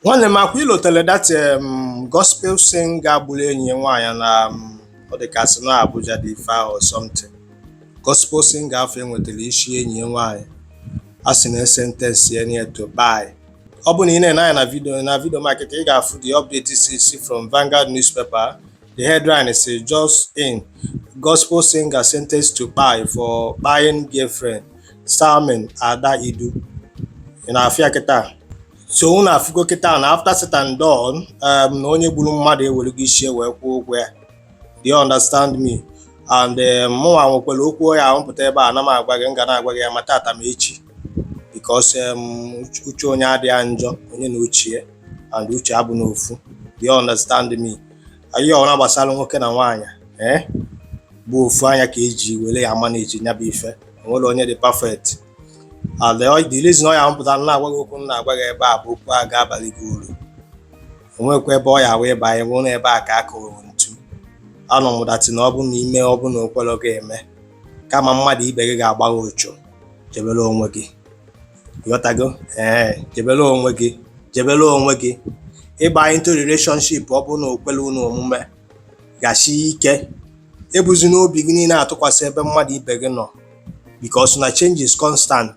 nwanne m akwa ilotele that um, gospel singer gburu enyi ya nwaanyị na um, ọ dị ka sị na Abuja dị ife ahụ or something gospel singer afụ e nwetara isi enyi ya nwaanyị a sị na e sentence ya nye to kpai ọ bụ na ị na-ene anya na vidio na vidio m a kịta ị ga-afụ the update si si from Vanguard newspaper the headline si just in gospel singer sentenced to kpai for kpaing girlfriend Salome Adaidu ị na-afụ ya kịta so unu afụgo kịta na after said and done um, na onye gburu mmadụ ewerego isi ya wee kwụọ ụgwọ ya do you understand me and um, mụnwa nwekwara okwu ya ahụpụta ebe a na m agwa gị m ga na-agwa gị ya ma tata ma echi because um, uche onye adịghị ya njọ onye na uche ya and uche abụrọ ofu do you understand me ihe ọbụna gbasara nwoke na nwaanyị ee eh? bụ ofu anya ka eji were ya manage nya bụ ife o nwerọ onye dị perfect and the reason ọ ya m pụta na-agwa gị okwu m na-agwa gị ebe a bụ okwu a ga-abalụ gị uru onwekwa ebe ọ ya wee ịba anyị nwụrụ ebe a ka a kụrụ ntu anọ m that na ọ bụ na ime ọ bụ na o kwerọ gị eme kama mmadụ ibe gị ga-agba gị ọchụ jebere onwe gị ghọtago ee jebere onwe gị jebere onwe gị ịba into relationship ọ bụ na o kwere unu omume gasie ike ebuzina obi gị niile atụkwasị ebe mmadụ ibe gị nọ because na change is constant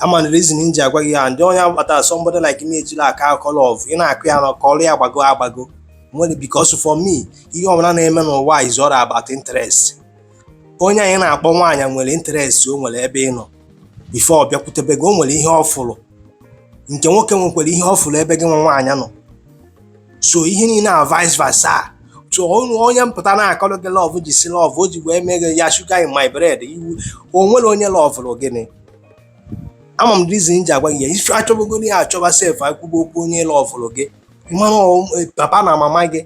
ị ma reason m ji agwa gị ya ndị onye agbata somebody like me ejila aka akọ love ị na-akọ ya na-akọlụ ya agbago agbago nwere because for me ihe ọbụla na-eme n'ụwa is all about interest onye anyị na-akpọ nwaanyị nwere interest o nwere ebe ị nọ before ọ bịakwutebe gị o nwere ihe ọ fụrụ nke nwoke nwekwara ihe ọ fụrụ ebe gị nwa nwaanyị nọ so ihe niile a vice versa so ọnụ onye pụta na-akọrọ gị love which is love o ji wee mee gị ya sugar in my bread iwu o nwerọ onye lọvụrụ gị ị ma reason m ji agwa gị ya if a chọbagoro ya achọba sef akwụba okwu onye lọvụrụ gị mmanụ papa na mama gị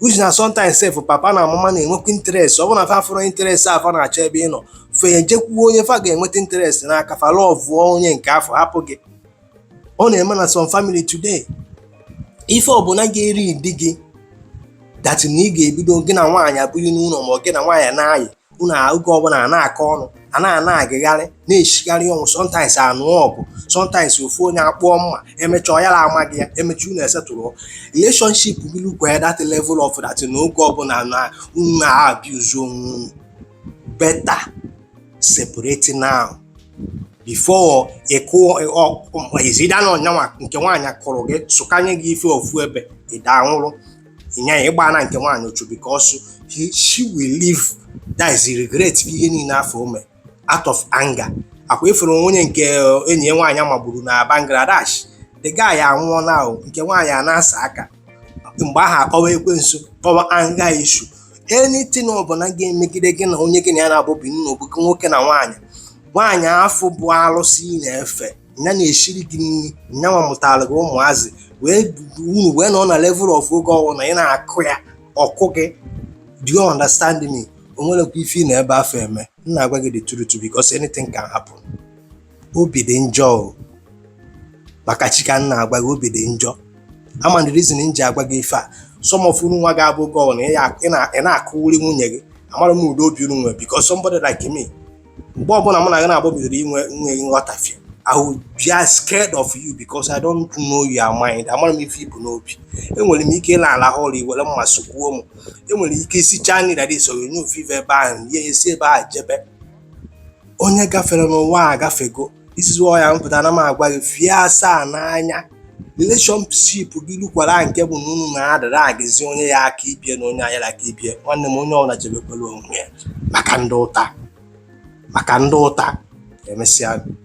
which na sometimes sef papa na mama na-enwekwa interest ọ bụrụ na fa afụrọ interest afụ fa na-achọ ebe ị nọ fa ejekwuo onye fa ga-enweta interest n'aka fa lọvụọ onye nke afụ hapụ gị ọ na-eme na some family today if ọ bụ na ga-eri di gị that na ị ga-ebido gị na nwaanyị abụghị n'ụlọ ma ọ gị na nwaanyị na-ayị unu oge ọbụla a na-akọ ọnụ a na-anagharị na-esigharị ọnwụ sometimes a nụọ ọgụ sometimes ofu onye akpụọ mma emecha ọ yara ama gị ya emecha unu esettle relationship gị lukwa that level of that na oge ọbụla na unu na-abuse onwe unu better separating now before is either na ọ nyanwa nke nwaanyị kụrụ gị sụkanye gị ife ofu ebe ị daa nwụrụ ịnya ya ịgba na nke nwaanyị ọchụ because he, she will live that is regret ihe niile afụ o me out of anger akwa ị fụrụ onye nke enyi ya nwaanyị magburu na Bangladesh the guy anwụọ now nke nwaanyị a na-asa aka mgbe ahụ akpọwa ekwensu kpọwa anger issue anything ọbụla ga-emegide gị na onye gị na ya na-abụ be it na ọ bụgo nwoke na nwaanyị nwaanyị afụ bụ arụsị ị na-efe ya na-esiri gị nri nyanwa mụtara gị ụmụazị wee unu wee nọ na level of oge ọ wụ na ị na-akụ ya ọ kụọ gị do you understand me o nwerekwa ife ị nọ ebe afụ eme m na-agwa gị the truth because anything can happen obi dị njọ o maka chi ka m na-agwa gị obi dị njọ ama the reason m ji agwa gị ife a some of unu nwa ga-abụgo na ị ya- ị na- ị na-akụwuri nwunye gị amarọ m ụdị obi unu nwere because somebody like me mgbe ọbụla mụ na gị na-abụ bidoro inwe nghọtafie I will be scared of you because I don't know your mind. Amarọ m ife i bu n'obi. Enwere m ike ịrahụ ụra i were mma sụgbuo m. I nwere ike isichaa nri that is i soronye ofu ife ebe ahụ, ya esi ebe ahụ jebe. onye gafere n'ụwa a agafego this is why m pụta na m agwa gị ife a saanụ anya relationship gị lukwara nke bụ na unu na-adarọ agazi onye ya aka ibie na onye ayara aka ibie nwanne m onye ọbụla chebekwara onwe ya maka ndị ụta maka ndị ụta emesịa